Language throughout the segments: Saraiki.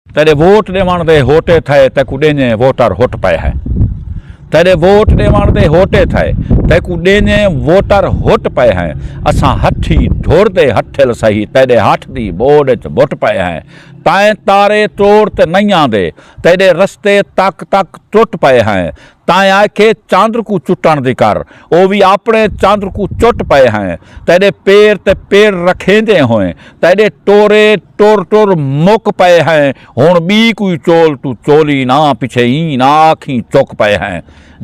تیڈے ووٹ ڈیوݨ دے ہوٹے تھئے تیکوں ڈینجیں ووٹر ہوٹ پئے ہے تیڈے ووٹ ڈیوݨ دے ہوٹے تھئے تیکوں ڈینجیں ووٹر ہوٹ پئے ہیں اساں ہٹھی ڈھور دے ہٹھل سہی تیڈے ہٹھ دی بوڈ اچ بٹ پئے ہیں تائیں تارے ٹوڑ تے نئیاں دے تیڈے رستے تک تک ٹوٹ پئے ہیں تائیں آکھے چندر کوں چٹݨ دی کر او وی آپݨے چندر کوں چٹ پئے ہیں تیݙے پیر تے پیر رکھیندیں ہوئیں تیݙے ٹورے ٹر ٹر مک پئے ہیں ہݨ ٻی کوئی چول توں چولی نہ پچھے ایں نہ آکھیں چک پئے ہیں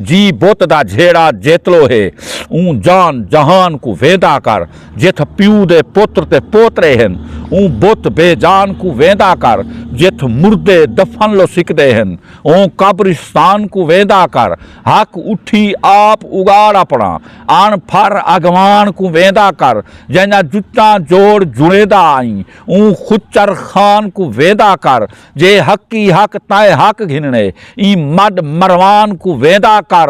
جی بت دا جھیڑا جیتلو ہے اوں جان جہان کوں ویندا کر جتھ پیو دے پتر تے پوترے ہن اوں بت بے جان کوں ویندا کر جتھ مردے دفن لو سکدے ہن اوں قبرستان کوں ویندا کر ہک اٹھی آپ اگاڑ اپنا اݨ پھر اگواݨ کوں ویندا کر جیندا جتاں جوڑ جڑیندا آئیں اوں خچر خان کوں ویندا کر جے حقی حق تائیں حق گھنڑے ایں مڈ مروان کوں ویندا کر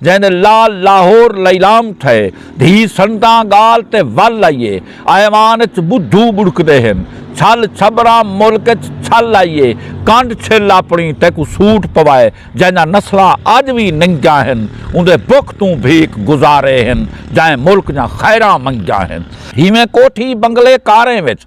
جئیں دے لال لاہور لیلام تھئے۔ دھی سنتاں ڳال تے ول آئیے۔ ایوان اچ ٻدھو ٻڑکدے ہن۔ چھل چھبراں ملک اچ چھل آئیے۔ کنڈ چھل اپݨی تیکوں سوٹ پوائے۔ جئینداں نسلاں اڄ وی ننگیاں ہن۔ اوندے بکھ توں بھیک گزارے ہن۔ جئیں ملک دیاں خیراں منگیاں ہن۔ ہیویں کوٹھی بنگلے کاریں وچ۔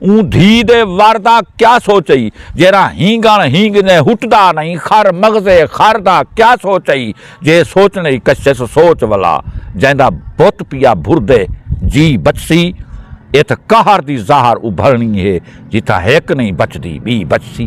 اوں دھی دے ور دا کیا سوچ ہئی جیرھا ہینگݨ ہینگدیں ہٹدا نئیں خر مغزے خر دا کیا سوچ ہئی جے سوچ نئیں کشس سوچ ولا جیندا بت پیا بھردے جی بچسی اتھ قہر دی ظاہر ابھرنی ہے جتھاں ہک نئیں بچدی ٻی بچسی۔